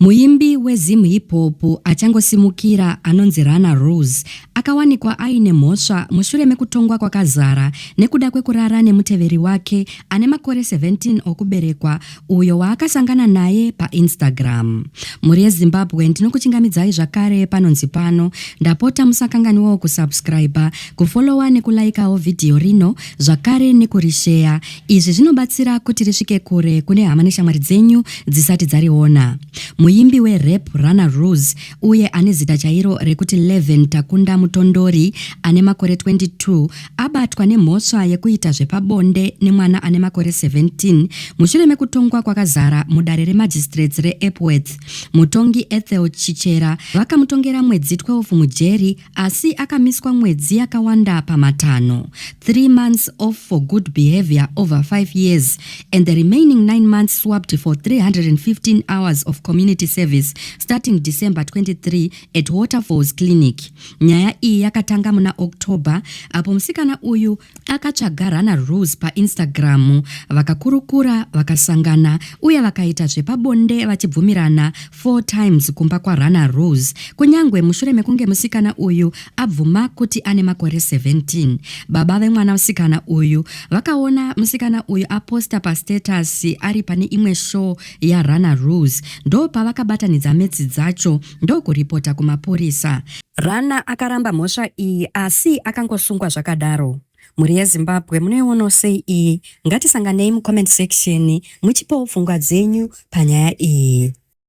Muimbi weZim Hip Hop achangosimukira anonzi Runner Rose akawanikwa aine mhosva mushure mekutongwa kwakazara nekuda kwekurara nemuteveri wake ane makore 17 okuberekwa uyo waakasangana naye paInstagram. Mhuri yeZimbabwe ndinokuchingamidzai zvakare panonzi pano, ndapota musakanganiwawo kusubscriber, kufollower nekulaikawo vhidhiyo rino zvakare nekurisheya. Izvi zvinobatsira kuti risvike kure kune hama neshamwari dzenyu dzisati dzariona. Muimbi werap Runner Rose uye ane zita chairo rekuti Leven Takunda Mutondori ane makore 22 abatwa nemhosva yekuita zvepabonde nemwana ane makore 17 mushure mekutongwa kwakazara mudare remagistrates reEpworth. Mutongi Ethel Chichera vakamutongera mwedzi 12 mujeri asi akamiswa mwedzi yakawanda pamatanho 3 months off for good behavior over 5 years and the remaining 9 months swapped for 315 hours of community service starting december 23 at waterfalls clinic nyaya iyi yakatanga muna october apo musikana uyu akatsvaga rana rose painstagram vakakurukura vakasangana uye vakaita zvepabonde vachibvumirana four times kumba kwaRana Rose kunyangwe mushure mekunge musikana uyu abvuma kuti ane makore 17. Baba vemwana musikana uyu vakaona musikana uyu aposta pastatus ari pane imwe show yaRana Rose ndopavakabatanidza metsi dzacho ndokuripota kumapurisa. Rana akaramba mhosva iyi asi akangosungwa zvakadaro. Mhuri yeZimbabwe munoionawo sei iyi? Ngatisanganei mucomment section muchipawo pfungwa dzenyu panyaya iyi.